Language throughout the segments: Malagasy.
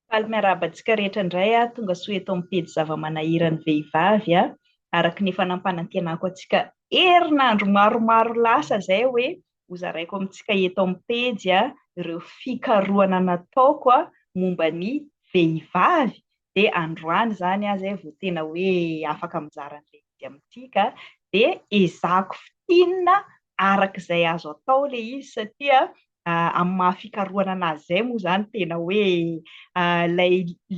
Faly miarahaba antsika rehetra indray aho, tongasoa eto amin'ny pejy zava-manahiran'ny vehivavy a, araka ny efa nampanantenako antsika herinandro maromaro lasa izay hoe hozaraiko amintsika eto amin'ny pejy a, ireo fikarohana nataoko a, momba ny vehivavy, dia androany izany aho izay vao tena hoe afaka mizara an'ilay izy amintsika, dia ezahako fintinina araka izay azo atao ilay izy satria amin'ny maha fikarohana an'azy izay moa izany tena hoe ilay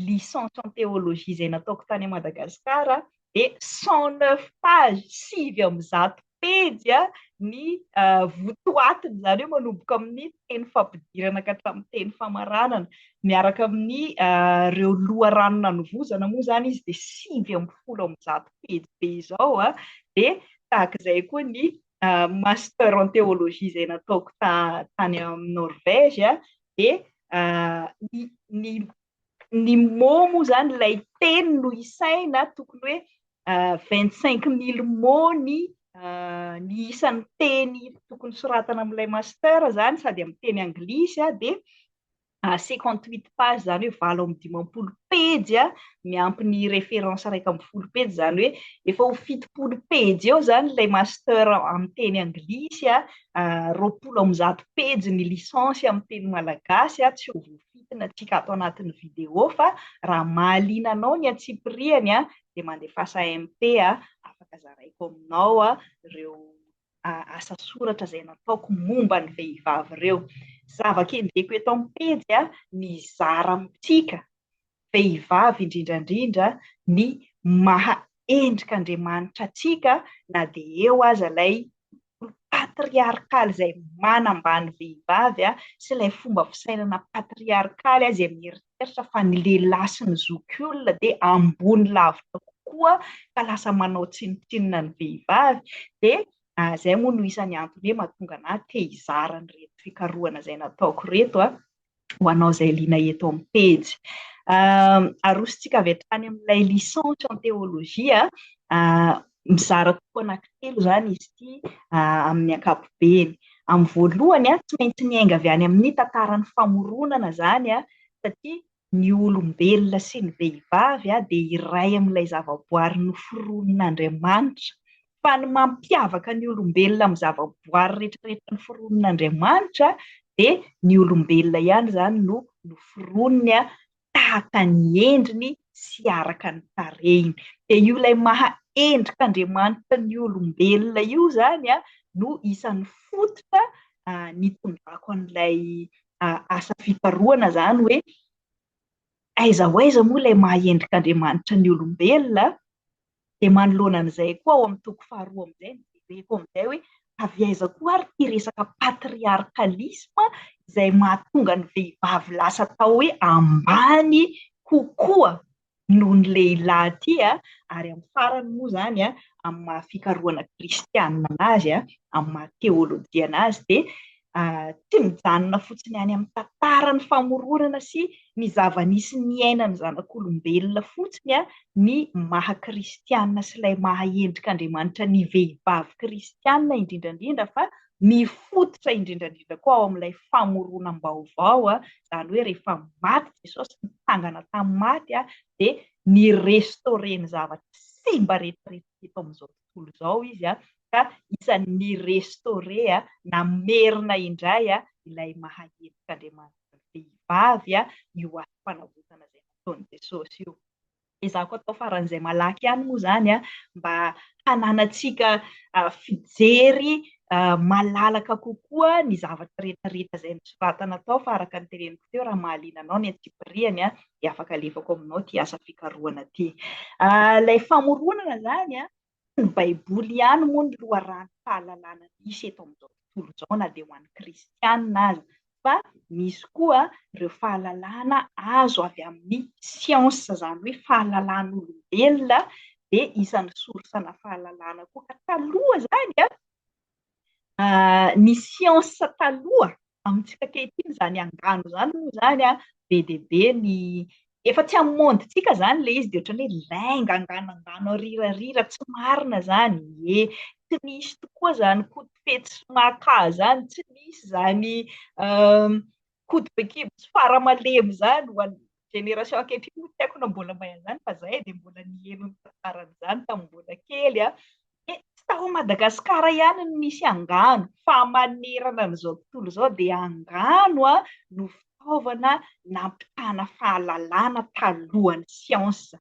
licence en théologie izay nataoko tany Madagasikara dia cent neuf pages, sivy amby zato pejy ny votoatiny, izany hoe manomboka amin'ny teny fampidirana ka hatramin'ny teny famaranana, miaraka amin'ny ireo loharano nanovozana moa izany izy dia sivy ambin'ny folo amby zato pejy be izao dia tahaka izay koa ny master en théologie izay nataoko tany amin'ny Norvège dia ny ny mots moa izany ilay teny no isaina tokony hoe vingt cinq mille mots ny ny isan'ny teny tokony soratana amin'ilay master izany sady amin'ny teny anglisy dia cinquante huit page izany hoe valo amby dimampolo pejy a, miampy ny référence iraika ambin'ny folo pejy izany hoe efa ho fitopolo pejy eo izany ilay master amin'ny teny anglisy a, roapolo amby zato pejy ny licence amin'ny teny malagasy a, tsy ho voafitina antsika ato anatin'ny vidéo fa raha mahaliana anao ny antsipiriany a dia mandefasa MP a, afaka zaraiko aminao ireo asa soratra izay nataoko momba ny vehivavy ireo. Zava-kendreko eto amin'ny pejy mizara amintsika vehivavy indrindra indrindra ny maha endrik'Andriamanitra antsika na dia eo aza ilay patriarkaly izay manambany vehivavy sy ilay fomba fisainana patriarkaly izay mieritreritra fa ny lehilahy sy ny zokiolona dia ambony lavitra kokoa ka lasa manao tsinontsinona ny vehivavy dia izay moa no isan'ny antony hoe mahatonga anà te hizara an'ireto fikarohana izay nataoko ireto a, ho anao izay liana eto amin'ny pejy. Arosontsika avy hatrany amin'ilay licence en théologie, Mizara toko anankitelo izany izy ity amin'ny ankapobeny. Amin'ny voalohany, tsy maintsy niainga avy any amin'ny tantaran'ny famoronana izany, satria ny olombelona sy ny vehivavy dia iray amin'ilay zavaboary noforonin'Andriamanitra. Fa ny mampiavaka ny olombelona amin'ny zavaboary rehetrarehetra noforonin'Andriamanitra dia ny olombelona ihany izany no noforoniny tahaka ny endriny sy araka ny tarehiny. Dia io ilay maha endrik'Andriamanitra ny olombelona io izany no isan'ny fototra nitondrako an'ilay asa fikarohana izany hoe aiza ho aiza moa ilay maha endrik'Andriamanitra ny olombelona? Dia manoloana an'izay koa ao amin'ny toko faharoa amin'izay ny jereko amin'izay hoe avy aiza koa ary ity resaka patriarcalisme izay mahatonga ny vehivavy lasa atao hoe ambany kokoa noho ny lehilahy ity a, ary amin'ny farany moa izany a, amin'ny maha fikarohana kristianina an'azy a, amin'ny maha teolojiana azy dia tsy mijanona fotsiny any amin'ny tantaran'ny famoronana sy ny zava-nisy niainan'ny zanak'olombelona fotsiny ny maha kristiana sy ilay maha endrik'Andriamanitra ny vehivavy kristiana indrindra indrindra fa mifototra indrindra indrindra koa ao amin'ilay famoronam-baovao, izany hoe rehefa maty Jesosy, nitsangana tamin'ny maty dia ni-restaurer ny zavatra simba rehetra rehetra eto amin'izao tontolo. tontolo izao izy ka isan'ny ni-restaurer na merina indray ilay maha-endrik'Andriamanitra vehivavy io asom-panavotana izay nataon'i Jesosy io. Ezahako atao faran'izay malaky ihany moa izany mba hananantsika fijery malalaka kokoa ny zavatra rehetrarehetra izay nosoratana tao fa araka ny teneniko teo raha mahaliana anao ny antsipiriany dia afaka alefako aminao ity asa fikarohana ity. Ah, ilay famoronana izany an, ny Baiboly ihany moa ny loharanom-pahalalana misy eto amin'izao tontolo izao na dia ho an'ny kristianina aza, fa misy koa ireo fahalalana azo avy amin'ny siansa, izany hoe fahalalan'olombelona, dia isan'ny sorsana fahalalana koa. Ka taloha izany an, ah, ny siansa taloha Amintsika ankehitriny izany angano izany moa izany be dia be ny, efa tsy amin'ny monde-ntsika izany ilay izy dia ohatran'ny hoe lainga angano angano arirarira tsy marina izany, ie, tsy nisy tokoa izany koto fetsy sy maka izany, tsy nisy izany koto be kibo sy fara malemy izany ho an'ny génération ankehitriny moa tsy haiko na mbola mahay an'izany fa zahay dia mbola niheno ny tantaran'izany tamin'ny mbola kely an. Dia tsy tao Madagasikara ihany no nisy angano fa manerana an'izao tontolo izao dia angano an no fitaovana nampitana fahalalana talohan'ny siansa.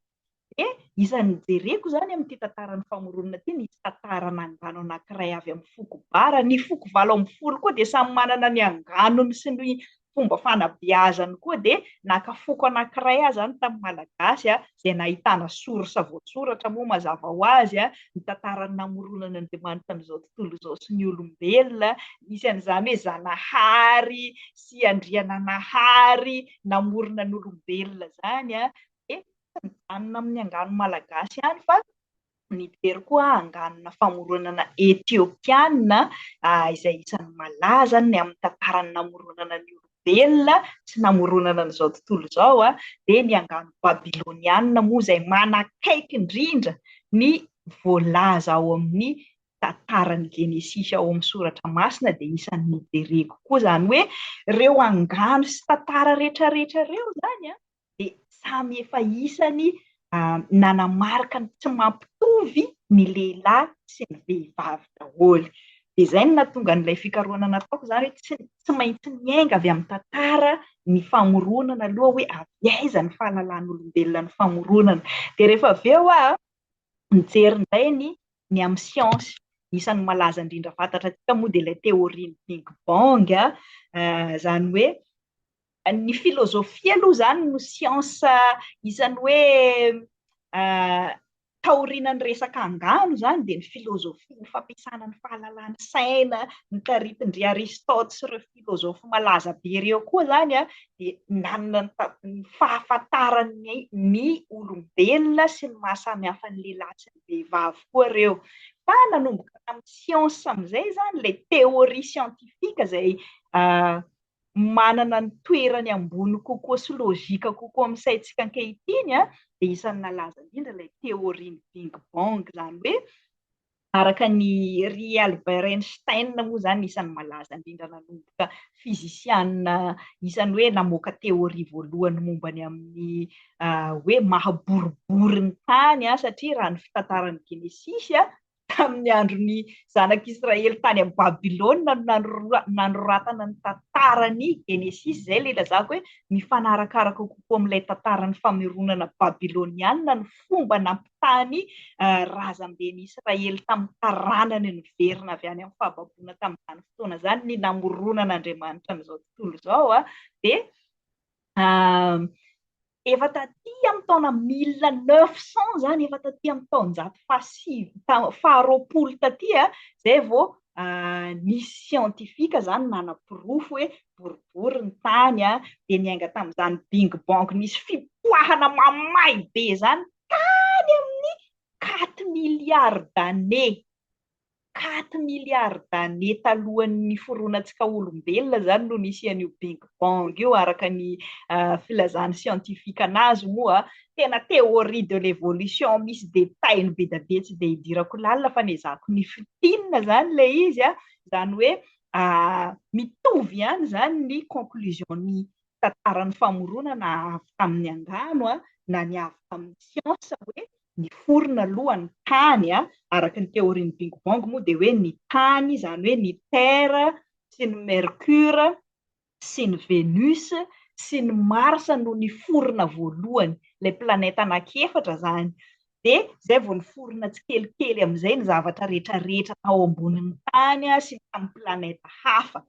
Dia izany nijereko izany amin'ity tantaran'ny famoronana ity, nisy tantarana angano anankiray avy amin'ny foko Bara, ny foko valo ambin'ny folo koa dia samy manana ny anganony sy ny fomba fanabeazany koa, dia naka foko anankiray aho izany tamin'ny Malagasy izay nahitana source voasoratra moa mazava ho azy, ny tantaran'ny namoronan'Andriamanitra an'izao tontolo izao sy ny olombelona, nisy an'izany hoe Zanahary sy Andriananahary namorona ny olombelona izany, dia tsy mijanona amin'ny angano malagasy ihany fa nijery koa anganona famoronana Ethiopiana izay isan'ny malaza ny amin'ny tantaran'ny namoronana ny olombelona sy namoronana an'izao tontolo izao dia ny angano babyloniana moa izay manakaiky indrindra ny voalaza ao amin'ny tantaran'ny genesisy ao amin'ny soratra masina dia isan'ny nijereko koa izany hoe ireo angano sy tantara rehetra rehetra ireo izany an! dia samy efa isany nanamarika ny tsy mampitovy ny lehilahy sy ny vehivavy daholo. Dia izay no nahatonga an'ilay fikarohana nataoko izany hoe tsy, tsy maintsy miainga avy amin'ny tantara ny famoronana aloha hoe avy aiza ny fahalalan'olombelona ny famoronana. Dia rehefa avy eo aho nijery indray ny, ny amin'ny siansa. Isan'ny malaza indrindra fantatrantsika moa dia ilay teôrian'ny Big Bang, izany hoe Ny filozofia aloha izany no siansa isan'ny hoe taorianan'ny resaka angano izany dia ny filozofia, ny fampiasana ny fahalalan'ny saina notaritin-dry Aristote sy ireo filozofy malaza be ireo koa izany dia nanana ny fahafantarany ny olombelona sy ny maha samy hafa ny lehilahy sy ny vehivavy koa ireo. Fa nanomboka tamin'ny siansa amin'izay izany ilay teoria siantifika izay manana ny toerany ambony kokoa sy lojika kokoa amin'ny saintsika ankehitriny dia isan'ny nalaza indrindra ilay teorian'ny Big Bang, izany hoe araka an' i ry Albert Einstein moa izany no isan'ny malaza indrindra nanomboka fizisiana isan'ny hoe namoaka teoria voalohany momba ny amin'ny hoe maha boribory ny tany satria raha ny fitantaran'ny Genesisy tamin'ny andron'ny zanak'Israely tany amin'ny Babylona no nanoratana ny tantaran'ny Genesisy. Izay ilay ilazako hoe mifanarakaraka kokoa amin'ilay tantaran'ny fameronana babylonianina ny fomba nampitahan'ny eh, razamben'ny Israely tamin'ny taranany niverina avy any amin'ny fahababoana tamin'izany fotoana izany ny namoronan'Andriamanitra an'izao tontolo izao. Ah. Dia ah, Efa taty amin'ny taona mille neuf cent zany, efa taty amin'ny taonjato fahasivy, faharoapolo taty zay vao nisy siantifika zany nanaporofo hoe boribory ny tany a, dia niainga tamin'izany bing bang nisy fipoahana mamay be zany tany amin'ny quatre milliards d'années. quatre milliards d'années talohan'ny niforonantsika olombelona izany no nisy an'io big bang io araka ny filazan'ny scientifique anazy moa tena théorie de l'évolution misy détail be da be tsy dia hidirako lalina fa nezahako ny fitinina izany ilay izy a izany hoe mitovy ihany izany ny conclusion ny tantaran'ny famoronana avy tamin'ny angano na ny avy tamin'ny siansa hoe niforona aloha ny tany, araka ny teorian'ny Bing Bong moa dia hoe ny tany izany hoe ny Terre sy ny Mercure sy ny Venus sy ny Mars no niforona voalohany, ilay planète anaky efatra izany, dia izay vao niforona tsikelikely amin'izay ny zavatra rehetrarehetra tao ambonin'ny tany sy tamin'ny planète hafa.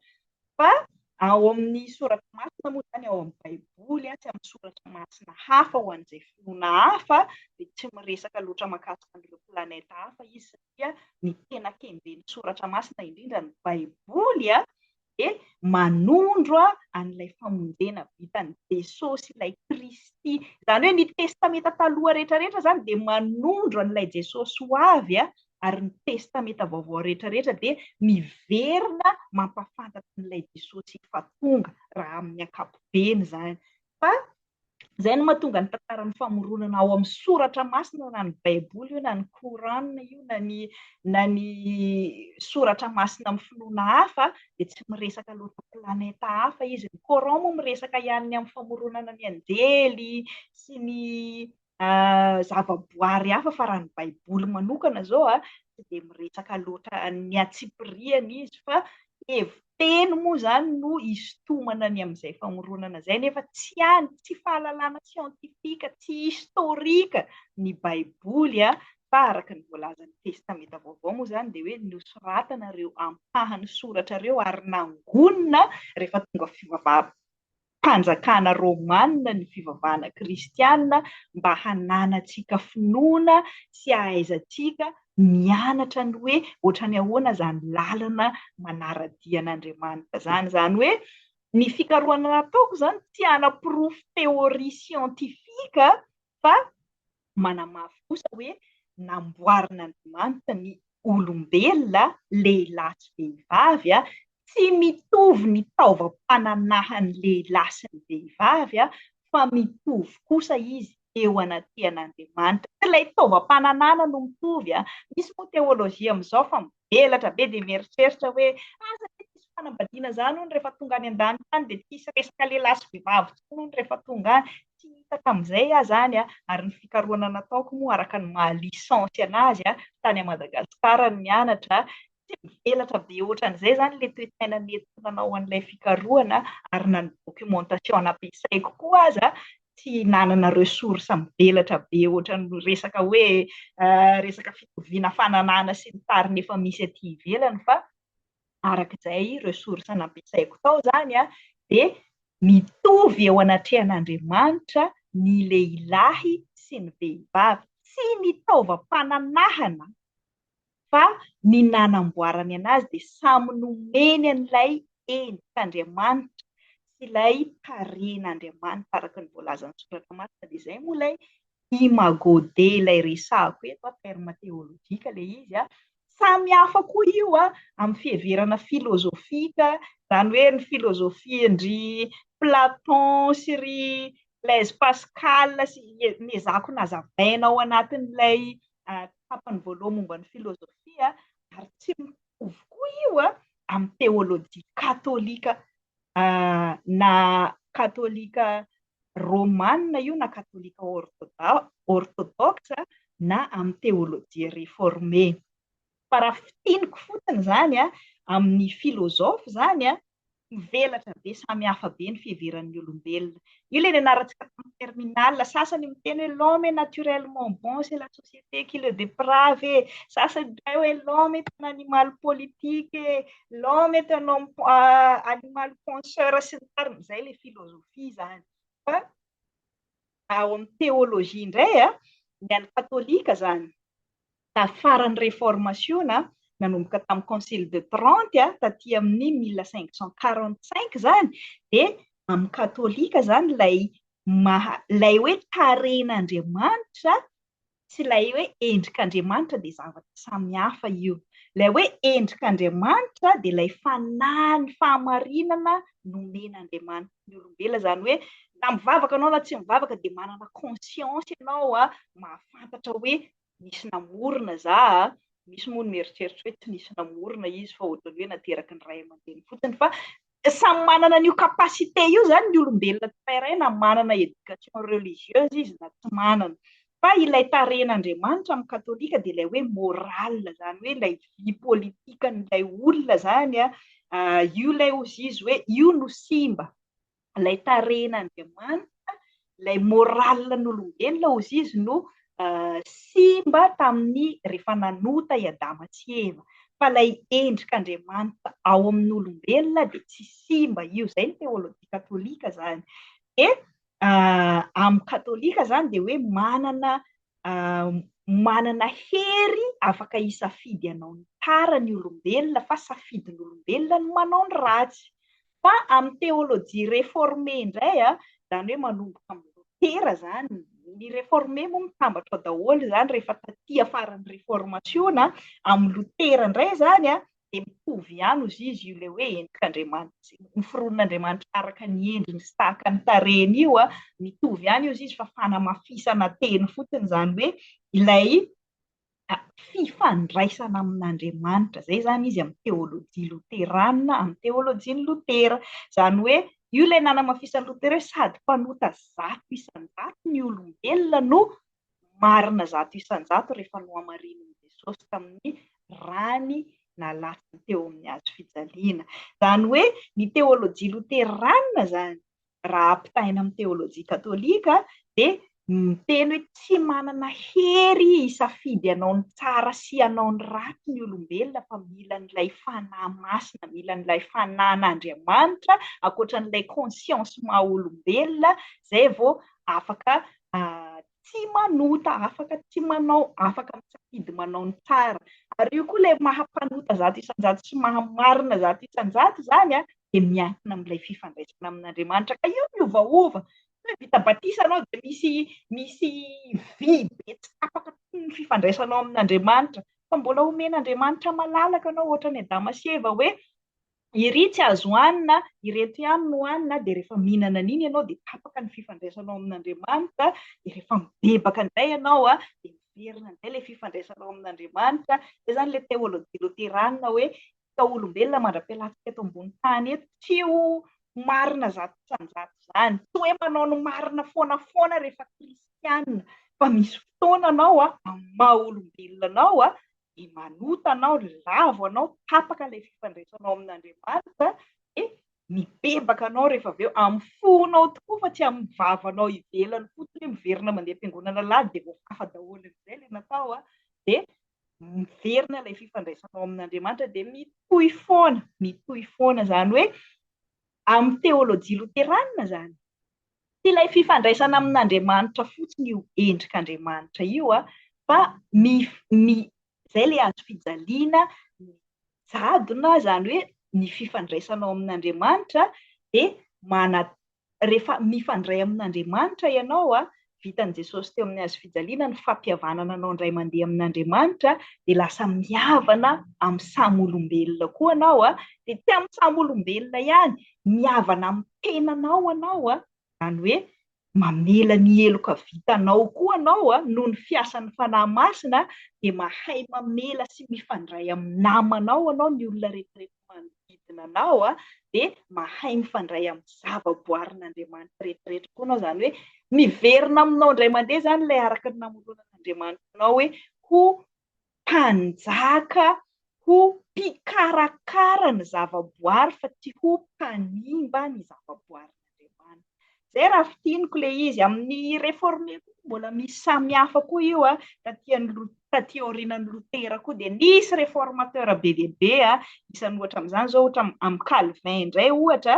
Fa ao amin'ny Soratra Masina moa izany, ao amin'ny Baiboly sy amin'ny Soratra Masina hafa ho an'izay finoana hafa, dia tsy miresaka loatra mahakasika an'ireo planète hafa izy satria ny tena kenjen'ny Soratra Masina indrindra, ny Baiboly, dia manondro an'ilay famonjena vitan'i Jesosy, ilay Kristy. Izany hoe ny Testamenta Taloha rehetra rehetra izany dia manondro an'ilay Jesosy ho avy ary ny Testamenta Vaovao rehetra rehetra dia miverina mampahafantatra an'ilay Jesosy efa tonga, raha amin'ny ankapobeny izany. Fa izay no mahatonga ny tantaran'ny famoronana ao amin'ny soratra masina, na ny Baiboly io, na ny Coran io, na ny, na ny soratra masina amin'ny finoana hafa, dia tsy miresaka loatra planeta hafa izy. Ny Coran moa miresaka ihany ny amin'ny famoronana ny anjely sy ny zava-boary hafa fa raha ny baiboly manokana zao a tsy dia miresaka loatra ny antsipiriany izy fa heviteny moa zany no isintomana ny amin'izay famoronana zay nefa tsy any tsy fahalalana siantifika tsy historika ny baiboly a fa araka ny voalazan'ny testamenta vaovao moa zany dia hoe nosoratana ireo ampahany soratra ireo ary nangonina rehefa tonga fivavahana mpanjakana romanina ny fivavahana kristiana mba hananantsika finoana sy hahaizantsika mianatra ny hoe ohatran'ny ahoana izany lalana manara-dia an'Andriamanitra izany. Izany hoe ny fikarohana nataoko izany tsy hanaporofo teoria siantifika fa manamafy kosa hoe namboarin'Andriamanitra ny olombelona, lehilahy sy vehivavy, tsy mitovy ny taovam-pananahan'ny lehilahy sy ny vehivavy fa mitovy kosa izy eo anatrehan'Andriamanitra. Tsy ilay taovam-pananahana no mitovy, misy moa teolojia amin'izao fa Elatra be dia mieritreritra hoe asa tsy misy fanambadiana zany hono rehefa tonga any an-danitra any dia tsy hisy resaka lehilahy sy vehivavy tsony hono rehefa tonga any. Tsy hitako amin'izay aho zany a! ary ny fikarohana nataoko moa araka ny maha licence anazy a! tany a Madagascar no nianatra tsy mivelatra be ohatran'izay zany ilay toe-tsaina nentina nanao an'ilay fikarohana ary na ny documentation nampiasaiko koa aza tsy nanana ressource mivelatra be ohatran'ny resaka hoe resaka fitoviana fananana sy ny tariny efa misy aty ivelany fa araka izay ressource nampiasaiko tao izany an, dia mitovy eo anatrehan'Andriamanitra ny lehilahy sy ny vehivavy, tsy ny taovam-pananahana fa ny nanamboarany anazy dia samy nomeny an'ilay endrik'Andriamanitra sy ilay tarehin'Andriamanitra araka ny voalazan'ny soratra masina dia izay moa ilay imago dei ilay resahako eto an, terme théologique ilay izy an, samy hafa koa io an, amin'ny fiheverana filozofika, izany hoe ny filozofian-dry Platon sy ry Blaise Pascal sy, nezahako nazavaina ao anatin'ilay tapany voaloha momba ny filôzôfia ary tsy mitovy koa io amin'ny teôlôjia katôlika na katôlika rômana io na katôlika ôrtôdôksa na amin'ny teôlôjia refôrme. Fa raha fintiniko fotsiny izany amin'ny filôzôfy izany, mivelatra be, samy hafa be ny fiheveran'ny olombelona. Io ilay nianarantsika tamin'ny terminale, sasany miteny hoe l'homme est naturellement bon, c'est la société qui le déprave e, sasany indray hoe l'homme est un animal politique e, l'homme est un animal penseur sy ny tariny. Izay ilay filôzôfia izany. Fa ao amin'ny teôlôjia indray, ny an'ny katôlika izany, Tafara ny Reformasiona, nanomboka tamin'ny Concile de Trente, taty amin'ny mille cinq cent quarante cinq izany, dia amin'ny Katolika izany ilay maha, ilay hoe tarehin'Andriamanitra sy ilay hoe endrik'Andriamanitra dia zavatra samy hafa io. Ilay hoe endrik'Andriamanitra dia ilay fanahy, ny fahamarinana nomen'Andriamanitra ny olombelona, izany hoe na mivavaka ianao na tsy mivavaka dia manana conscience ianao, mahafantatra hoe nisy namorona za a, misy moa ny mieritreritra hoe tsy nisy namorona izy fa ohatran'ny hoe nateraky ny ray aman-dreny fotsiny fa samy manana an'io capacité io zany ny olombelona tsirairay na manana éducation religieuse izy na tsy manana fa ilay tarehin'Andriamanitra amin'ny katolika dia ilay hoe moral zany hoe ilay vie politikan'ilay olona zany a ah, io ilay ozy izy hoe io no simba ilay tarehin'Andriamanitra, ilay moralin'olombelona ozy izy no simba tamin'ny rehefa nanota i Adama sy i Eva. Fa ilay endrik'Andriamanitra ao amin'olombelona dia tsy simba io. Izay ny teolojia katolika izany. Dia amin'ny katolika izany dia hoe manana manana hery afaka hisafidy hanao ny tara ny olombelona fa safidin'olombelona ny manao ny ratsy. Fa amin'ny théologie réformée indray, izany hoe manomboka amin'i Lotera izany, ny réformé moa mitambatra ao daholo izany rehefa taty afaran'ny réformation, amin'i Lotera indray izany dia mitovy ihany ozy izy io ilay hoe endrik'Andriamanitra, noforonin'Andriamanitra araka ny endriny sy tahaka ny tarehiny io an, mitovy ihany ozy izy fa fanamafisana teny fotsiny izany hoe ilay fifandraisana amin'Andriamanitra, izay izany izy amin'ny teolojia loterana, amin'ny teolojian'i Lotera, izany hoe io ilay nanamafisan'i Lotera hoe sady mpanota zato isan-jato ny olombelona no marina zato isan-jato rehefa nohamarinin'i Jesosy tamin'ny rany nalatsany teo amin'ny hazo fijaliana. Izany hoe ny teolojia loterana izany, raha ampitahaina amin'ny teolojia katolika, dia miteny hoe tsy manana hery hisafidy hanao ny tsara sy hanao ny ratsy ny olombelona fa mila an'ilay Fanahy Masina, mila an'ilay Fanahin'Andriamanitra, ankoatra an'ilay conscience maha olombelona, izay vao afaka tsy manota, afaka tsy manao, afaka misafidy manao ny tsara. Ary io koa ilay maha mpanota zato isan-jato sy maha marina zato isan-jato izany an, dia miankina amin'ilay fifandraisana amin'Andriamanitra. Ka io miovaova. Tsy hoe vita batisa ianao dia misy misy vy be tsy tapaka toy ny fifandraisanao amin'Andriamanitra. Fa mbola omen'Andriamanitra malalaka ianao, hoatran'i Adama sy Eva hoe Iry tsy azo hanina, ireto ihany no hanina, dia rehefa mihinana an'iny ianao dia tapaka ny fifandraisanao amin'Andriamanitra, dia rehefa mibebaka indray ianao dia miverina indray ilay fifandraisanao amin'Andriamanitra. Izay izany ilay teolojia loterana hoe ny taolombelona mandra-pialantsika eto ambony tany eto tsy ho marina zato isan-jato izany, tsy hoe manao ny marina foana foana rehefa kristiana, fa misy fotoana anao amin'ny maha olombelona anao dia manota anao, lavo anao, tapaka ilay fifandraisanao amin'Andriamanitra, dia mibebaka anao rehefa avy eo, amin'ny fonao tokoa fa tsy amin'ny vavanao ivelany fotsiny hoe miverina mandeha am-piangonana alahady dia voafafa daholo amin'izay ilay natao an, dia miverina ilay fifandraisanao amin'Andriamanitra dia mitohy foana, mitohy foana, izany hoe amin'ny teolojia loterana izany. Tsy ilay fifandraisana amin'Andriamanitra fotsiny io endrik'Andriamanitra io fa izay ilay hazo fijaliana, ny jadona, izany hoe ny fifandraisanao amin'Andriamanitra dia manat, rehefa mifandray amin'Andriamanitra ianao, vitan'i Jesosy teo amin'ny hazo fijaliana ny fampihavanana anao indray mandeha amin'Andriamanitra dia lasa mihavana amin'ny samy olombelona koa anao, dia tsy amin'ny samy olombelona ihany mihavana amin'ny tenanao anao, izany hoe mamela ny heloka vitanao koa anao noho ny fiasan'ny Fanahy Masina, dia mahay mamela sy mifandray amin'ny namanao anao, ny olona rehetrarehetra manodidina anao, dia mahay mifandray amin'ny zavaboarin'Andriamanitra rehetrarehetra koa anao, izany hoe miverina aminao indray mandeha izany ilay araka ny namoronan'Andriamanitra anao hoe ho mpanjaka ho mpikarakara ny zavaboary fa tsy ho mpanimba ny zavaboarin'Andriamanitra. Izay raha fintiniko ilay izy. Amin'ny Réformé koa mbola misy samihafa koa io, taty aorianan'i Lotera koa dia nisy Réformateur be dia be, isan'ny ohatra amin'izany izao ohatra amin'i Calvin indray ohatra,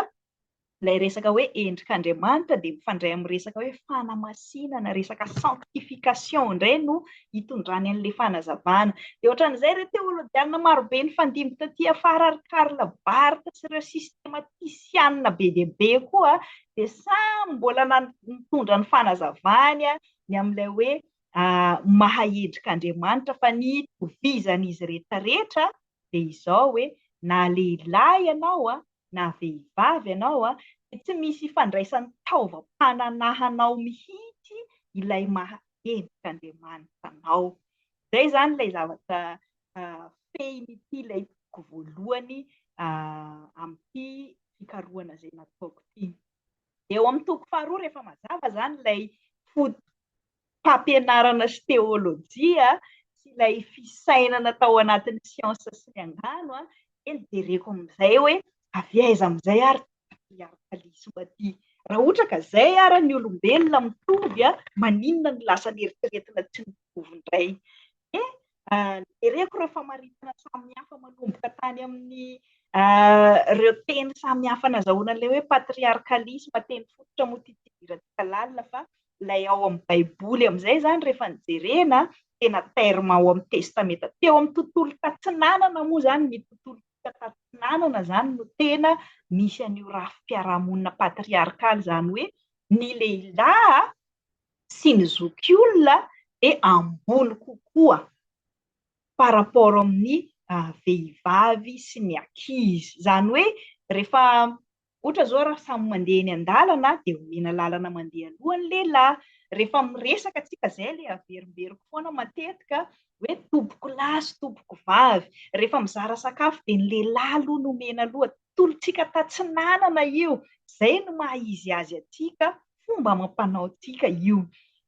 Ilay resaka hoe endrik'Andriamanitra dia mifandray amin'ny resaka hoe fanamasinana, resaka sanctification indray no hitondrany an'ilay fanazavana. Dia ohatran'izay ireo teolojiana marobe nifandimby taty afara ary Karl Barth sy ireo sistematisiana be dia be koa dia samy mbola nitondra ny fanazavany ny amin'ilay hoe maha endrik'Andriamanitra fa ny itovizan'izy rehetra rehetra dia izao hoe na lehilahy ianao na vehivavy ianao dia tsy misy ifandraisan'ny taovam-pananahanao mihitsy ilay maha endrik'Andriamanitra anao. Izay izany ilay zavatra fehin'ity ilay toko voalohany amin'ity fikarohana izay nataoko ity. Eo amin'ny toko faharoa rehefa mazava izany ilay fampianarana sy teolojia sy ilay fisainana tao anatin'ny siansa sy ny angano dia nijereko amin'izay hoe avy aiza amin'izay ary ity patriarkalisma ity. Raha ohatra ka izay ary ny olombelona mitovy, maninona no lasa neritreretina tsy mitovy indray? Dia Jereko ireo famaritana samihafa manomboka tany amin'ny ireo teny samihafa nazahoana an'ilay hoe patriarkalisma, teny fototra moa ity tsy idirantsika lalina fa ilay ao amin'ny Baiboly amin'izay izany rehefa ny jerena tena terme ao amin'ny testamenta. Teo amin'ny tontolo tatsinanana moa izany ny tontolo tatsinanana izany no tena misy an'io rafi-piarahamonina patriarkaly izany hoe ny lehilahy sy ny zokiolona dia ambony kokoa par rapport amin'ny vehivavy sy ny ankizy. Izany hoe rehefa ohatra izao raha samy mandeha eny an-dalana dia omena lalana mandeha aloha ny lehilahy. Rehefa miresaka isika izay ilay averimberiko foana matetika hoe tompoko lahy sy tompoko vavy. Rehefa mizara sakafo dia ny lehilahy aloha no omena aloha. tolontsika tatsinanana io, izay no maha izy azy antsika, fomba amam-panaontsika io.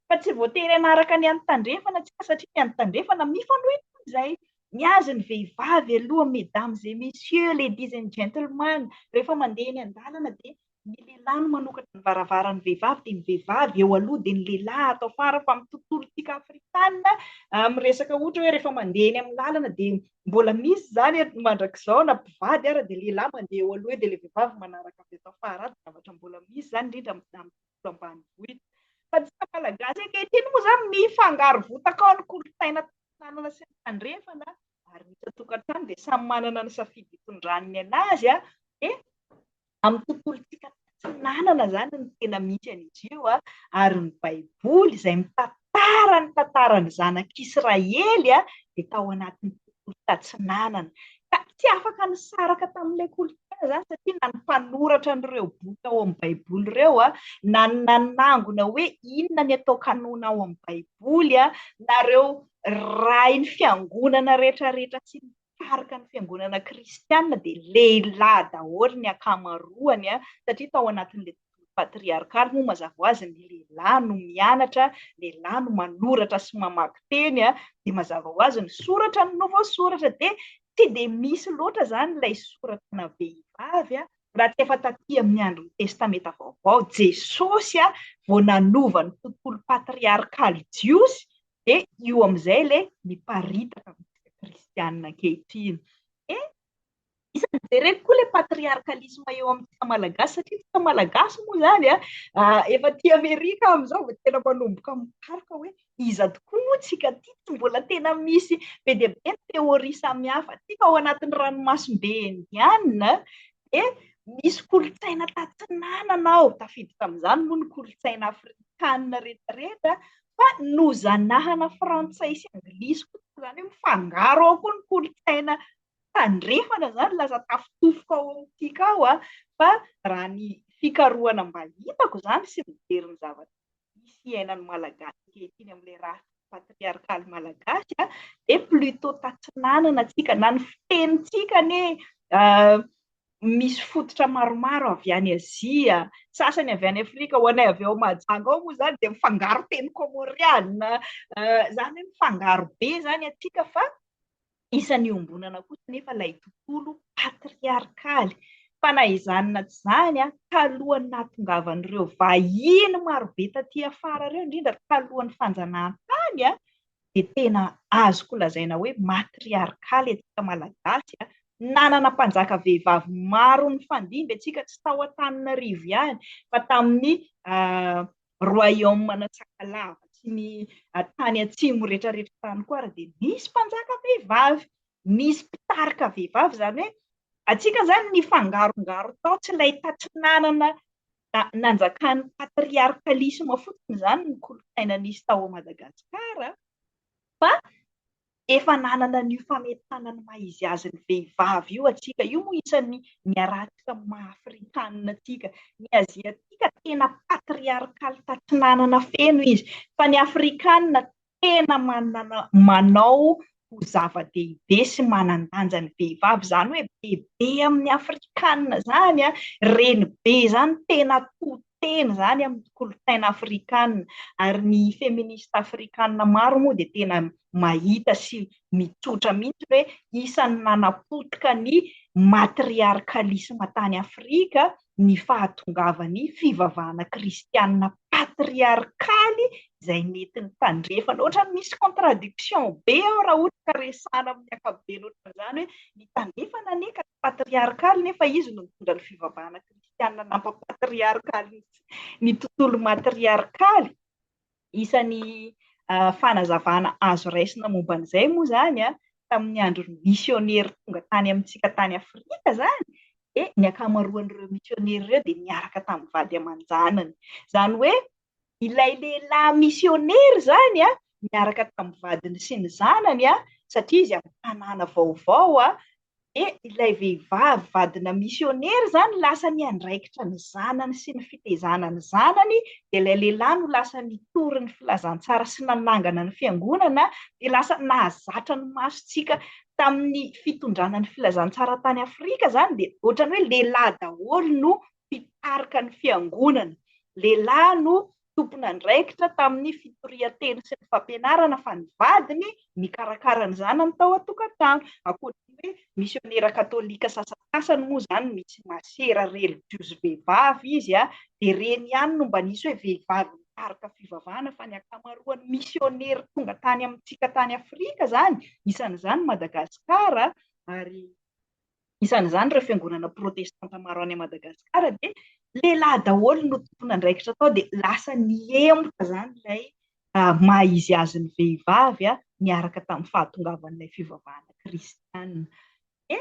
Fa tsy voatery hanaraka ny an'ny tandrefana isika satria ny an'ny tandrefana mifanohitra amin'izay. Ny azy ny vehivavy aloha mesdames et messieurs, ladies and gentlemen, rehefa mandeha eny an-dalana dia Ny lehilahy no manokatra ny varavaran'ny vehivavy dia ny vehivavy eo aloha dia ny lehilahy ato afara fa amin'ny tontolontsika afrikana amin'ny resaka ohatra hoe rehefa mandeha eny amin'ny lalana dia mbola misy izany mandrakizao na mpivady ara dia lehilahy mandeha eo aloha eo dia ilay vehivavy manaraka avy ato afara ato, zavatra mbola misy izany indrindra amin'ny tontolo ambanivohitra. Fa antsika malagasy ankehitriny moa izany mifangaro votaka ao ny kolontsaina tantanana sy ny tandrefana ary ny isan-tokantrano dia samy manana ny safidy hitondrany ny anazy dia Amin'ny tontolontsika tatsinanana izany no tena misy an'izy io ary ny Baiboly izay mitantara ny tantaran'ny zanak'Israely dia tao anatin'ny tontolo tatsinanana. Ka tsy afaka nisaraka tamin'ilay kolontsaina izany satria na ny mpanoratra an'ireo boky ao amin'ny Baiboly ireo na ny nanangona hoe inona ny atao kanôna ao amin'ny Baiboly na ireo rain'ny fiangonana rehetrarehetra sy ny mpitarika ny fiangonana kristiana dia lehilahy daholo ny ankamaroany a, satria tao anatin'ilay tontolo patriarkaly moa mazava ho azy ny lehilahy no mianatra, lehilahy no manoratra sy mamaky teny a, dia mazava ho azy ny soratra no voasoratra dia tsy dia misy loatra izany ilay soratra ana vehivavy a, raha tsy efa taty amin'ny andron'ny testamenta vaovao Jesosy a vao nanova ny tontolo patriarkaly jiosy Dia io amin'izay ilay miparitaka amintsika kristianina ankehitriny. Dia isan'ny jereko koa ilay patriarkalisma eo amintsika malagasy, satria isika malagasy moa izany efa aty Amerika amin'izao vao tena manomboka mikaroka hoe iza tokoa moa tsika aty, tsy mbola tena misy be dia be ny théorie samihafa aty fa ao anatin'ny ranomasimbe indianina dia misy kolontsaina tatsinanana ao, tafiditra amin'izany moa ny kolontsaina afrikanina rehetra rehetra, Fa nozanahana frantsay sy anglisy koa toa izany hoe mifangaro ao koa ny kolontsaina tandrefana izany, lasa tafitofoko ao amin'ny tiako ao an! Fa raha ny fikarohana mba hitako izany sy mijery ny zavatra misy iainan'ny Malagasy ankehitriny amin'ilay rafitra patriarkaly malagasy an, dia plutot tatsinanana tsika na ny fitenintsika anie misy fototra maromaro avy any Azia, sasany avy any Afrika, ho anay avy ao Mahajanga ao moa izany dia mifangaro teny kômôriana, izany hoe mifangaro be izany atsika fa isan'ny iombonana kosa anefa ilay tontolo patriarkaly. Fa na izany na tsy izany, talohan'ny nahatongavan'ireo vahiny marobe taty afara ireo, indrindra talohan'ny fanjanahantany, dia tena azoko lazaina hoe matriarkaly antsika Malagasy a! Nanana mpanjaka vehivavy maro nifandimby antsika, tsy tao Antananarivo ihany fa tamin'ny Royaume ana Sakalava sy ny tany atsimo rehetrarehetra tany koa ary dia nisy mpanjaka vehivavy, nisy mpitarika vehivavy, izany hoe antsika izany nifangarongaro tao, tsy nahita tsy nanana Na, nanjakan'ny patriarkalisma fotsiny izany ny kolontsaina nisy tao Madagascar, fa efa nanana an'io fametahana ny maha izy azy ny vehivavy io antsika. Io moa isan'ny niarahantsika amin'ny maha afrikanina antsika. Ny aziatika tena patriarkaly tatsinanana feno izy, fa ny afrikanina tena manana manao ho zava-dehibe sy manan-danja ny vehivavy, izany hoe bebe amin'ny afrikanina izany an, renibe izany, tena to tena izany amin'ny kolontsaina afrikanina, ary ny feminista afrikanina maro moa dia tena mahita sy mitsotra mihitsy hoe isan'ny nanapotika ny matriarkalisma tany Afrika ny fahatongavan'ny fivavahana kristianina patriarkaly izay mety ny tandrefana. Ohatran'ny misy contradiction be ao raha ohatra ka resahana amin'ny ankapobeny ohatran'izany hoe ny tandrefana anie ka tsy patriarkaly nefa izy no nitondra ny fivavahana kristianina nampa-patriarkaly ny tontolo matriarkaly. isan'ny fanazavana azo raisina momba an'izay moa izany an, tamin'ny andron'ny misionera tonga tany amintsika tany Afrika izany, dia ny ankamaroan'ireo misionera ireo dia niaraka tamin'ny vady aman-janany. Izany hoe ilay lehilahy misionera izany an, niaraka tamin'ny vadiny sy ny zanany an, satria izy amin'ny tanàna vaovao an, Dia ilay vehivavy vadina misionera izany lasa niandraikitra ny zanany sy ny fitaizana ny zanany, dia ilay lehilahy no lasa nitory ny filazantsara sy nanangana ny fiangonana, dia lasa nahazatra ny masontsika tamin'ny fitondrana ny filazantsara tany Afrika izany, dia ohatran'ny hoe lehilahy daholo no mpitarika ny fiangonana, lehilahy no tompon'andraikitra tamin'ny fitorian-teny sy ny fampianarana fa ny vadiny nikarakara ny zanany tao an-tokantrano. Ankoatra ny hoe misionera katolika sasantsasany moa izany misy masera relijiozy vehivavy izy dia ireny ihany no mba nisy hoe vehivavy nikaroka fivavahana fa ny ankamaroan'ny misionera tonga tany amintsika tany Afrika izany, isan'izany Madagasikara ary isan'izany ireo fiangonana protestanta maro any Madagasikara dia lehilahy daholo no tompon'andraikitra tao dia lasa nihemotra izany ilay maha izy azy ny vehivavy niaraka tamin'ny fahatongavan'ilay fivavahana kristianina. Dia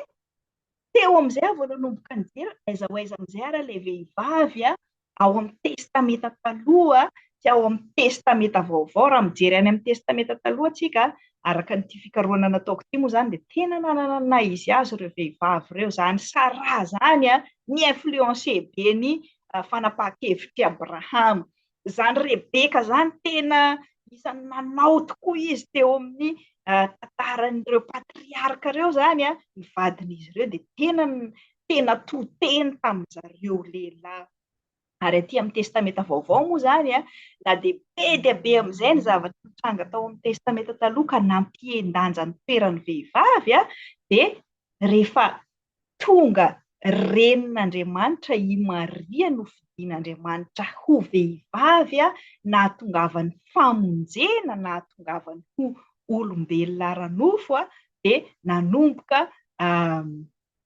teo amin'izay aho vao nanomboka nijery aiza ho aiza amin'izay ary ilay vehivavy ao amin'ny Testamenta Taloha sy ao amin'ny Testamenta Vaovao. Raha mijery any amin'ny Testamenta Taloha tsika, araka ity fikarohana nataoko ity moa izany, dia tena nanana ny naha izy azy ireo vehivavy ireo. Izany Saraha izany ni-influencer be ny fanapahan-kevitr'i Abrahama. Izany Rebeka izany, tena isan'ny nanao tokoa izy teo amin'ny tantaran'ireo patriarka ireo izany, ny vadin'izy ireo dia tena tena to-teny tamin-dry zareo lehilahy. Ary aty amin'ny Testamenta Vaovao moa izany, na dia be dia be amin'izay ny zavatra nitranga tao amin'ny Testamenta Taloha ka nampihen-danja ny toeran'ny vehivavy, dia rehefa tonga Renin'Andriamanitra i Maria nofidin'Andriamanitra ho vehivavy, nahatongavany famonjena, nahatongavany ho olombelona ara-nofo, dia nanomboka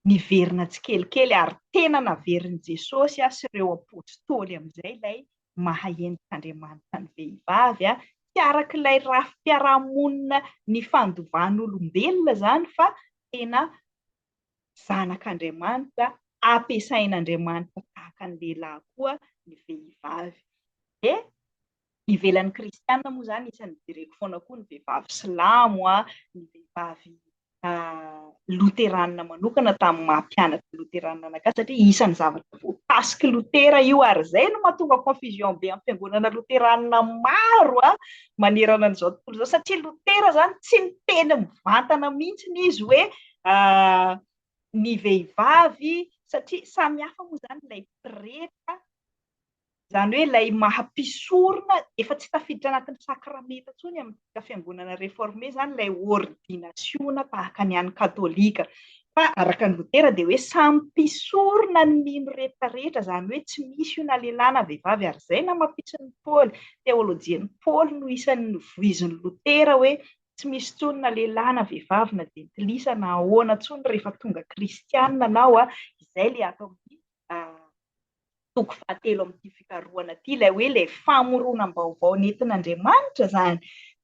Niverina tsikelikely ary tena naverin'i Jesosy sy ireo apostoly amin'izay ilay maha-endrik'Andriamanitra ny vehivavy, tsy araka ilay rafi-piarahamonina nifandovan'olombelona izany fa tena zanak'Andriamanitra, ampiasain'Andriamanitra tahaka ny lehilahy koa ny vehivavy. Dia ivelan'ny kristiana moa izany isan'ny jereko foana koa ny vehivavy silamo a, ny vehivavy loteranina manokana tamin'ny maha mpianatra loteranina anakay satria isan'ny zavatra voakasiky lotera io ary izay no mahatonga confusion be amin'ny fiangonana loteranina maro a manerana an'izao tontolo izao satria lotera izany tsy miteny mivantana mihitsy ny izy hoe ny vehivavy satria samy hafa moa izany ilay pretra Izany hoe ilay maha mpisorona efa tsy tafiditra anatin'ny sakramenta intsony amintsika fiangonana reforme izany ilay ordinasiona tahaka ny an'ny katolika. Fa araka an'i Lotera dia hoe samy mpisorona ny mino rehetra rehetra, izany hoe tsy misy io na lehilahy na vehivavy ary izay namapisin'i Paoly, teolojian'i Paoly no isan'ny novoizin'i Lotera hoe tsy misy intsony na lehilahy na vehivavy na jentilisa na ahoana intsony rehefa tonga kristiana anao izay ilay ato amin'ny toko fahatelo amin'ity fikarohana ity, ilay hoe ilay famoronam-baovao nentin'Andriamanitra izany,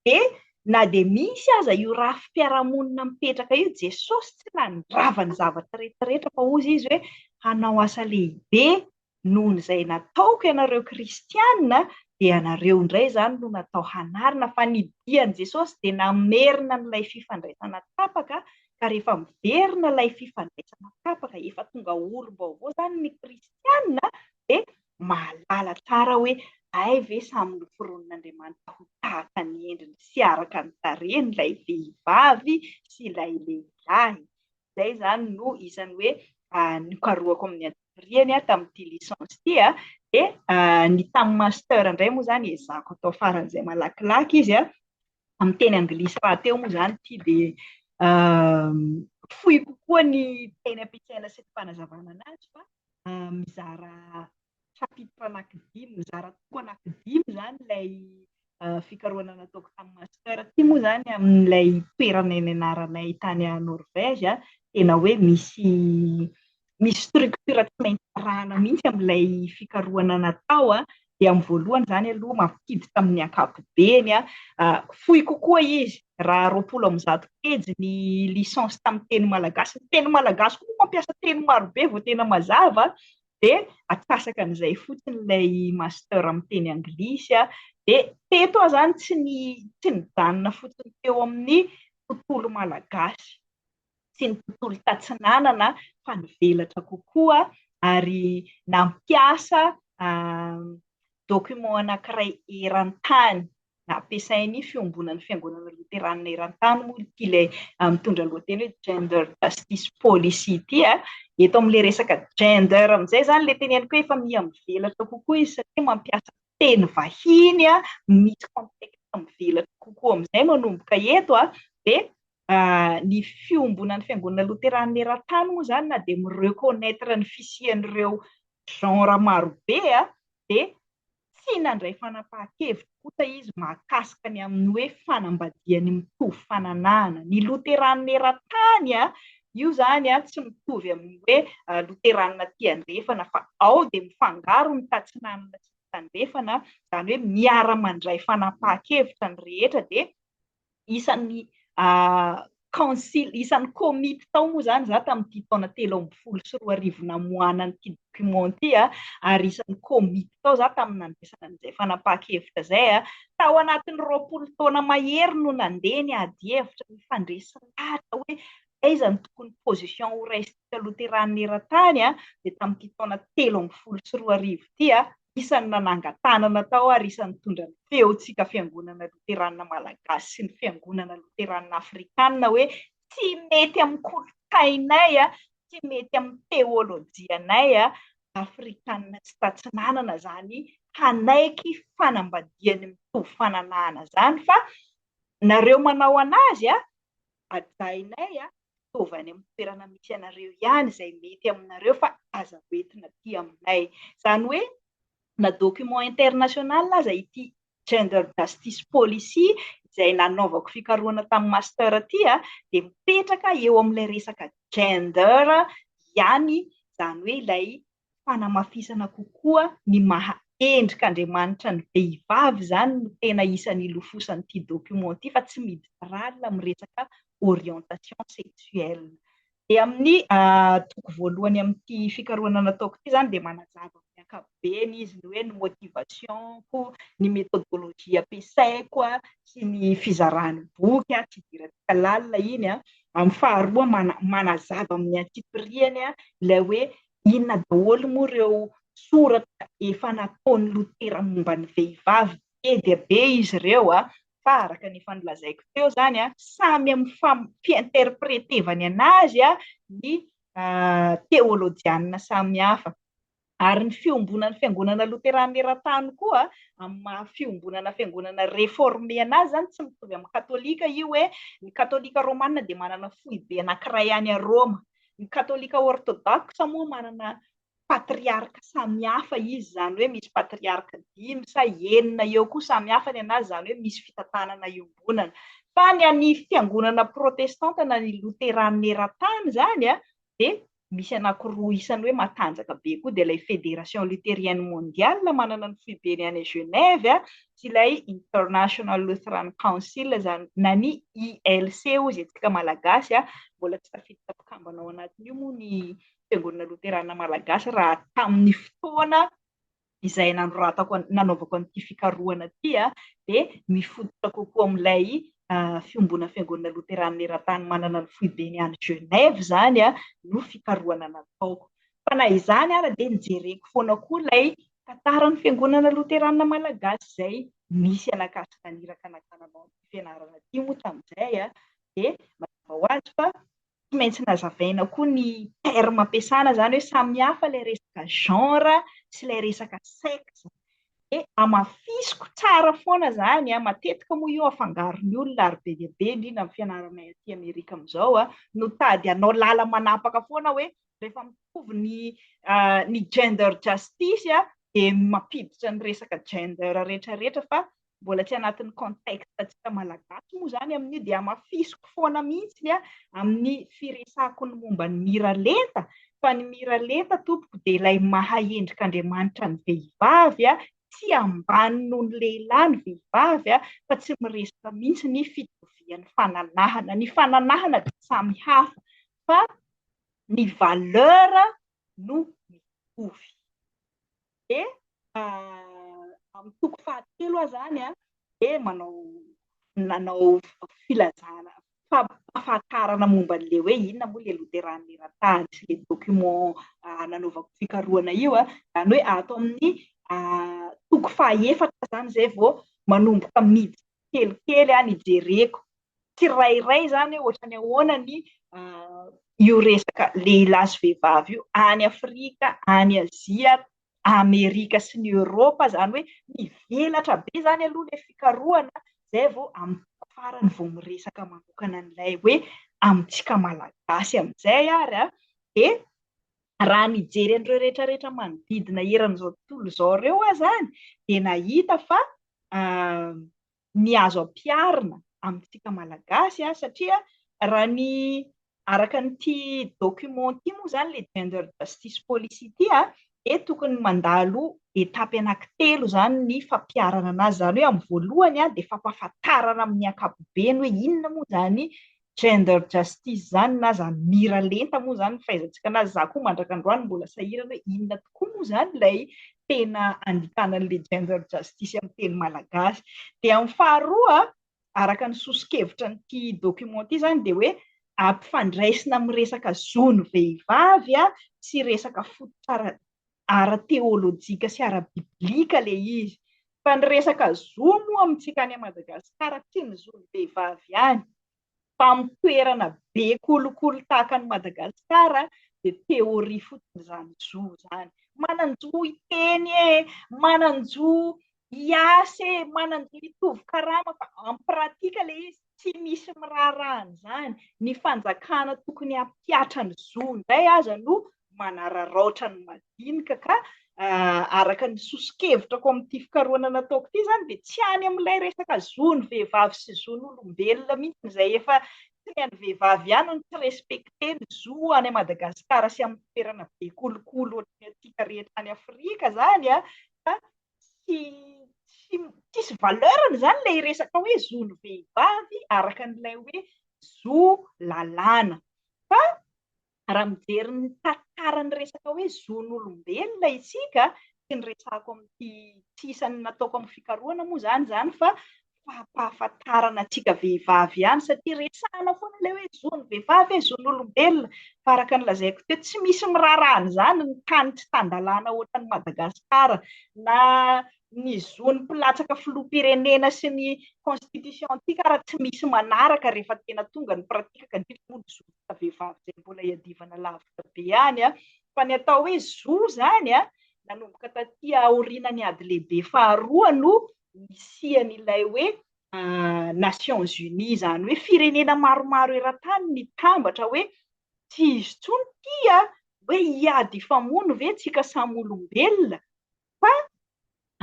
dia na dia misy aza io rafi-piarahamonina mipetraka io, Jesosy tsy nandrava ny zavatra rehetrarehetra, fa hoy Izy hoe, hanao asa lehibe noho izay nataoko ianareo kristiana, dia ianareo indray izany no natao hanarina, fa ny dian'i Jesosy dia namerina an'ilay fifandraisana tapaka ka rehefa miverina ilay fifandraisana kapa ka efa tonga olom-baovao izany ny kristiana dia mahalala tsara hoe hay ve samy noforonin'Andriamanitra ho tahaka ny endriny sy araka ny tarehiny ilay vehivavy sy ilay lehilahy. Izay izany no isan'ny hoe nokarohako amin'ny antsipiriany tamin'ity licence ity dia ny tamin'ny master indray moa izany ezahako atao faran'izay malakilaky izy amin'ny teny anglisy rahateo moa izany ity dia fohy kokoa ny teny ampiasaina sy ny fanazavana anazy fa mizara chapitre anankidimy, mizara toko anankidimy izany ilay fikarohana nataoko tamin'ny master ity moa izany amin'ilay toerana nianaranay tany Norvège, tena hoe misy misy structure tsy maintsy arahana mihitsy amin'ilay fikarohana natao a, dia amin'ny voalohany izany aloha mampiditra amin'ny ankapobeny a, fohy kokoa izy raha roapolo amby zato pejy ny licence tamin'ny teny malagasy, ny teny malagasy koa moa mampiasa teny marobe vao tena mazava a, dia atsasaka an'izay fotsiny ilay master amin'ny teny anglisy a, dia teto aho izany tsy ny tsy nijanona fotsiny teo amin'ny tontolo malagasy. sy ny tontolo tatsinanana fa nivelatra kokoa ary nampiasa document anankiray eran-tany nampiasain'ny Fiombonan'ny Fiangonana Loteranina eran-tany moa ity ilay mitondra lohateny hoe Gender Justice Policy ity. Eto amin'ilay resaka gender amin'izay izany ilay teneniko hoe efa miha mivelatra kokoa izy satria mampiasa teny vahiny misy contexte mivelatra kokoa amin'izay manomboka eto dia Ny fiombonan'ny Fiangonana Loteranina eran-tany moa izany na dia mi-reconnaitre ny fisian'ireo genre marobe dia tsy nandray fanapahan-kevitra kosa izy mahakasika ny amin'ny hoe fanambadian'ny mitovy fananahana. Ny Loteranina eran-tany, io izany tsy mitovy amin'ny hoe Loteranina aty andrefana fa ao dia mifangaro ny tatsinanana sy ny tandrefana, izany hoe miara-mandray fanapahan-kevitra ny rehetra dia isan'ny kaonsily, isan'ny komity tao moa izany izaho tamin'ity taona telo ambin'ny folo sy roa arivo namoahana an'ity document ity, ary isan'ny komity tao izaho tamin'ny nandraisana an'izay fanapahan-kevitra izay. Tao anatin'ny roapolo taona mahery no nandeha ny adihevitra, ny fandresy-lahatra hoe aiza no tokony position horaisintsika Loteranina eran-tany, dia tamin'ity taona telo ambin'ny folo sy roa arivo ity isan'ny nanangan-tanana tao ary isan'ny nitondra ny feontsika Fiangonana Loteranina Malagasy sy ny Fiangonana Loteranina Afrikana hoe tsy mety amin'ny kolontsainay, tsy mety amin'ny teolojianay Afrikana sy Tatsinanana izany hanaiky fanambadiany mitovy fananahana izany fa nareo manao anazy Hajainay a! Ataovy any amin'ny toerana misy anareo ihany izay mety aminareo fa aza ho entina aty aminay. Izany hoe na document international aza ity Gender Justice Policy izay nanaovako fikarohana tamin'ny master ity a, dia mipetraka eo amin'ilay resaka gender ihany izany hoe ilay fanamafisana kokoa ny maha endrik'Andriamanitra ny vehivavy izany no tena isan'ny ilofosan'ity document ity fa tsy midralina amin'ny resaka orientation sexuelle. Dia amin'ny toko voalohany amin'ity fikarohana nataoko ity izany dia manazava amin'ny ankapobeny izy ny hoe ny motivation-ko, ny methodologie ampiasaiko sy ny fizaràn'ny boky tsy idirantsika lalina iny. Amin'ny faharoa manazava amin'ny antsipiriany ilay hoe Inona daholo moa ireo soratra efa nataon'i Lotera momba ny vehivavy? Be dia be izy ireo, fa araka ny efa nolazaiko teo izany, samy amin'ny fi-interpretevany an'azy ny teolojianina samihafa. Ary ny fiombonan'ny Fiangonana Loterana eran-tany koa amin'ny maha fiombonana fiangonana reforme an'azy izany, tsy mitovy amin'ny Katolika io hoe ny Katolika Romana dia manana foibe anankiray any Roma, Ny katolika ortodoksa moa manana patriarka samy hafa izy, izany hoe misy patriarka dimy sa enina eo koa samy hafa ny anazy, izany hoe misy fitantanana iombonana. Fa ny an'ny fiangonana protestanta na ny loteranina eran-tany izany dia misy anankiroa isany hoe matanjaka be koa, dia ilay Fédération luthérienne mondiale manana ny foibeny any Genève, ilay International Lutheran Council izany na ny ILC hoy izay tsika malagasy a, mbola tsy tafiditra mpikambana ao anatin'io moa ny fiangonana loterana malagasy raha tamin'ny fotoana izay nanoratako nanaovako an'ity fikarohana ity a, dia mifototra kokoa amin'ilay fiombona fiangonana loterana eran-tany manana ny foibeny any Genève izany a no fikarohana nataoko. Fa na izany ara dia nijereko foana koa ilay tantaran'ny fiangonana loteranina malagasy izay nisy an'Ankatso naniraka nakana nanao ity fianarana ity moa tamin'izay a, dia mazava ho azy fa tsy maintsy nazavaina koa ny terme ampiasana izany hoe samy hafa ilay resaka genre sy ilay resaka sexe. Dia hamafisiko tsara foana izany a, matetika moa io afangaron'ny olona ary be dia be indrindra amin'ny fianaranay aty Amerika amin'izao a, no tady hanao lala-manapaka foana hoe rehefa mitovy ny ny gender justice a dia mampiditra ny resaka gender rehetra rehetra fa mbola tsy anatin'ny contexte antsika malagasy moa izany amin'io dia hamafisiko foana mihitsy a amin'ny firesako ny momba ny miralenta fa ny miralenta tompoko dia ilay mahaendrika andriamanitra ny vehivavy a tsy ambany noho ny lehilahy ny vehivavy a fa tsy miresaka mihitsy ny fitovian'ny fananahana ny fananahana dia samy hafa fa ny valeur no mitovy. Dia amin'ny toko fahatelo aza any an, dia manao nanao filazana fampahafantarana momba an'ilay hoe inona moa ilay loterana eran-tany sy ilay document nanaovako fikarohana io an, izany hoe ato amin'ny toko fahaefatra izany izay vao manomboka miditra kelikely an ijereko tsirairay izany hoe ohatrany ahoana ny io resaka lehilahy sy vehivavy io any Afrika, any Azia, Amerika sy ny Eoropa izany hoe mivelatra be izany aloha ilay fikarohana izay vao amin'ny tapany farany vao miresaka manokana an'ilay hoe amintsika Malagasy amin'izay ary an, dia raha nijery an'ireo rehetra rehetra manodidina eran'izao tontolo izao ireo aho izany dia nahita fa ny azo ampiharina amintsika Malagasy an, satria raha ny araka an'ity document ity moa izany ilay Gender Justice Policy ity an, dia tokony mandalo étape anankitelo izany ny fampiharana an'azy, izany hoe amin'ny voalohany an dia fampahafantarana amin'ny ankapobeny hoe inona moa izany Gender justice zany na za mira lenta moa zany fahaizantsika anazy za koa mandrak'androany mbola sahirana hoe inona tokoa moa zany ilay tena andikana an'ilay gender justice amin'ny teny malagasy. Dia amin'ny faharoa, araka ny soso-kevitra an'ity document ity zany dia hoe ampifandraisina amin'ny resaka zon'ny vehivavy sy resaka fototra ara ara-teolojika sy ara-biblika ilay izy. Fa ny resaka zo moa amintsika any Madagasikara, tsy ny zon'ny vehivavy ihany, fa amin'ny toerana be kolikoly tahaka an'i Madagasikara dia théorie fotsiny izany zo izany. Manan-jo hiteny e! Manan-jo IAC manana mitovy karama fa en pratique le izy tsy misy miraharaha an'izany, ny fanjakana tokony hampihatra ny zo indray aza no manararaotra ny madinika ka araka ny soso-kevitrako amin'ity fikarohana nataoko ity izany dia tsy any amin'ilay resaka zon'ny vehivavy sy zon'olombelona mihitsy izay efa tsy ny an'ny vehivavy ihany no tsy respecté ny zo any Madagasikara sy amin'ny toerana be kolikoly ohatry ny antsika rehetra any Afrika izany a, tsy tsy tsisy valeur-ny izany ilay resaka hoe zon'ny vehivavy araka an'ilay hoe zo lalàna. Fa raha mijery ny tantaran'ny resaka hoe zon'olombelona isika, tsy ny resahako amin'ity tsy isan'ny nataoko amin'ny fikarohana moa izany izany fa fahampahafantarana antsika vehivavy ihany satria resahina foana ilay hoe zon'ny vehivavy e, zon'olombelona fa araka ny lazaiko teo tsy misy miraharaha an'izany ny tany tsy tan-dalàna ohatran'i Madagasikara na ny zon'ny mpilatsaka filoham-pirenena sy ny constitution-ntsika ary tsy misy manaraka rehefa tena tonga ny pratique ka indrindra moa ny zontsika vehivavy izay mbola iadivana lavitra be any an! fa ny atao hoe zo izany an! nanomboka taty aorianan'ny ady lehibe faharoa no nisian'ilay hoe Nations Unies, izany hoe firenena maromaro eran-tany nitambatra hoe tsy izy intsony ity a, hoe hiady hifamono ve tsika samy olombelona fa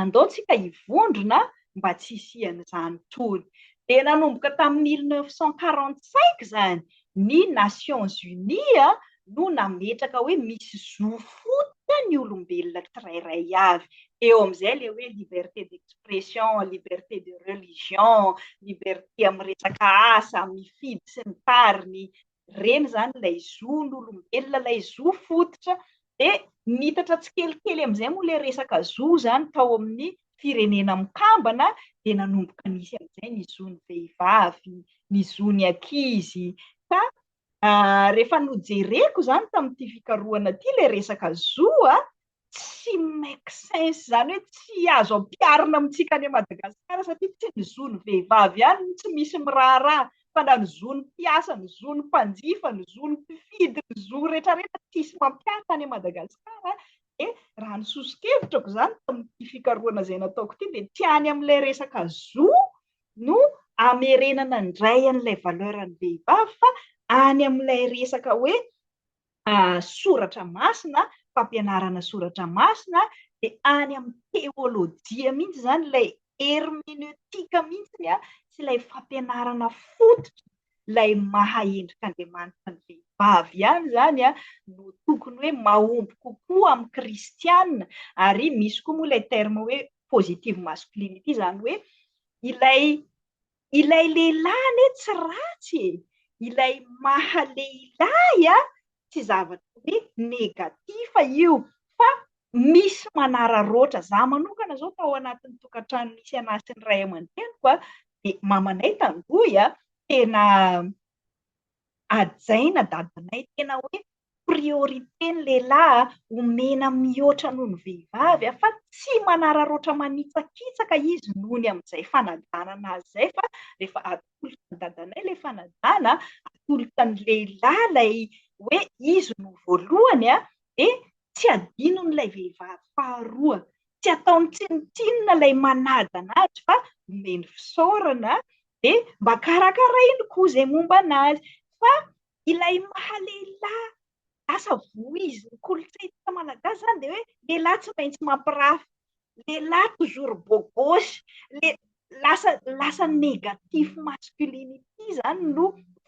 andao tsika hivondrona mba tsy hisian'izany intsony. Dia nanomboka tamin'ny mille neuf cent quarante cinq izany ny Nations Unies no nametraka hoe misy zo fototra ny olombelona tsirairay avy. Eo amin'izay ilay hoe liberté d'expression, liberté de religion, liberté amin'ny resaka asa, mifidy sy ny tariny. Ireny izany ilay zon'olombelona, ilay zo fototra Dia niitatra tsikelikely amin'izay moa ilay resaka zo izany tao amin'ny firenena mikambana, dia nanomboka nisy amin'izay ny zon'ny vehivavy, ny zon'ny ankizy, ka rehefa nojereko izany tamin'ity fikarohana ity ilay resaka zo an, tsy make sense, izany hoe tsy azo ampiharina amintsika any Madagasikara satria tsy ny zon'ny vehivavy ihany no tsy misy miraharaha Fantany ny zo ny mpiasa, ny zo ny mpanjifa, ny zo ny mpifidy, ny zo rehetra rehetra tsisy mampiahy tany Madagascar dia raha ny sosokevitrako izany tamin'ity fikarohana izay nataoko ity dia tsy any amin'ilay resaka zo no amerenana indray an'ilay valeur ny vehivavy fa any amin'ilay resaka hoe soratra masina, fampianarana soratra masina, dia any amin'ny teolojia mihitsy izany, ilay hermeneutika mihitsy sy ilay fampianarana fototra, ilay maha endrik'Andriamanitra ny vehivavy ihany izany no tokony hoe mahomby kokoa amin'ny kristiana, ary misy koa moa ilay terme hoe positive masculine ity, izany hoe ilay Ilay lehilahy anie tsy ratsy e! Ilay maha lehilahy a! Tsy zavatra hoe negatif io fa misy manararaotra. Za manokana zao tao anatin'ny tokantrano nisy anah sy ny ray aman-dreniko a, de mamanay tandroy a, tena hajaina dadanay, tena hoe priorité ny lehilahy omena mihoatra noho ny vehivavy fa tsy manararaotra manitsakitsaka izy noho ny amin'izay fanajanana azy izay fa rehefa atolotra an'i dadanay ilay fanajana, atolotra ny lehilahy ilay hoe izy no voalohany dia tsy adinon'ilay vehivavy faharoa. Tsy ataony tsinontsinona ilay manaja an'azy fa omeny fisaorana dia mba karakarainy koa izay momba an'azy fa Ilay maha lehilahy lasa voiziny kolontsaintsika malagasy zany dia hoe lehilahy tsy maintsy mampirafy, lehilahy toujours beau gosse, le lasa lasa négatif masculinity zany no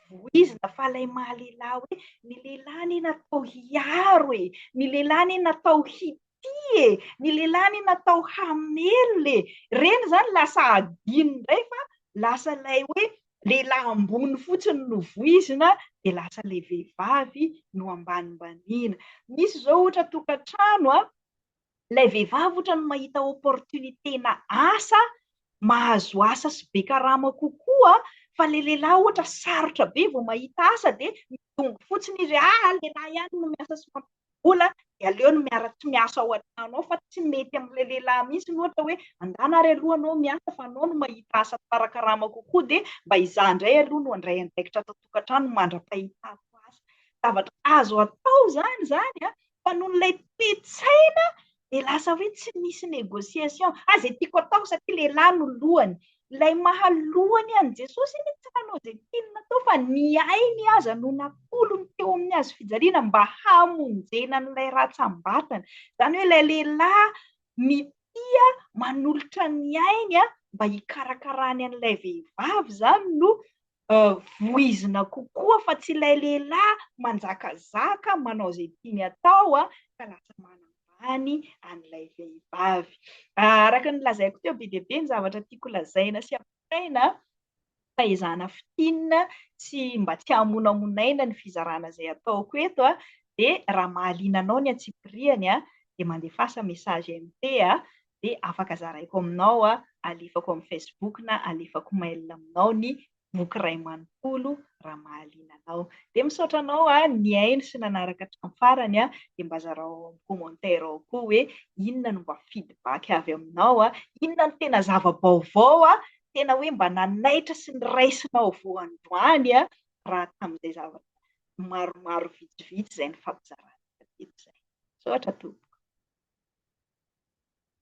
voizina fa ilay maha lehilahy hoe ny lehilahy anie natao hiaro e, ny lehilahy anie natao hi tia e! Ny lehilahy anie natao hamelona e! Ireny izany lasa hadino indray fa lasa ilay hoe lehilahy ambony fotsiny no voizina dia lasa ilay vehivavy no ambanimbaniana. Misy izao ohatra tokantrano an, ilay vehivavy ohatra ny mahita opportunité-na asa, mahazo asa sy be karama kokoa fa ilay lehilahy ohatra sarotra be vao mahita asa dia midongy fotsiny izy hoe ah! lehilahy ihany no miasa sy mampiasa. vola dia aleo ny miara tsy miasa ao an-trano ao fa tsy mety amin'ilay lehilahy mihitsy ny ohatra hoe andana ary aloha anao miasa fa anao no mahita asa tsara karama kokoa dia mba hizaha indray aloha no handray andraikitra ato an-tokantrano mandra-pahitako asa. Zavatra azo atao izany izany an, fa noho ilay toe-tsaina dia lasa hoe tsy misy négociation, ah zay tiako atao satria lehilahy no lohany, ilay maha lohany an'i Jesosy anie tsy nanao izay tiany natao fa ny ainy aza no natolony teo amin'ny hazo fijaliana mba hamonjena an'ilay ratsambatana, izany hoe ilay lehilahy mitia manolotra ny ainy mba hikarakarany an'ilay vehivavy izany no voizina kokoa fa tsy ilay lehilahy manjakazaka manao izay tiany atao ka lasa manambany an'ilay vehivavy. Araka ny lazaiko teo, be dia be ny zavatra tiako lazaina sy ampitaina fa ezahana fintinina sy mba tsy hamonamonaina ny fizarana izay ataoko eto dia raha mahaliana anao ny antsipirihany dia mandefasa message MP dia afaka zaraiko aminao, alefako amin'ny Facebook na alefako mail aminao ny boky iray manontolo raha mahaliana anao. Dia misaotra anao nihaino sy nanaraka hatramin'ny farany, dia mba zarao ao amin'ny commentaire ao koa hoe inona no mba feedback avy aminao, inona no tena zava-baovao tena hoe mba nanaitra sy noraisinao vao androany raha tamin'izay zavatra maromaro vitsivitsy izay nifampizarantsika teto izay. Misaotra tompoko.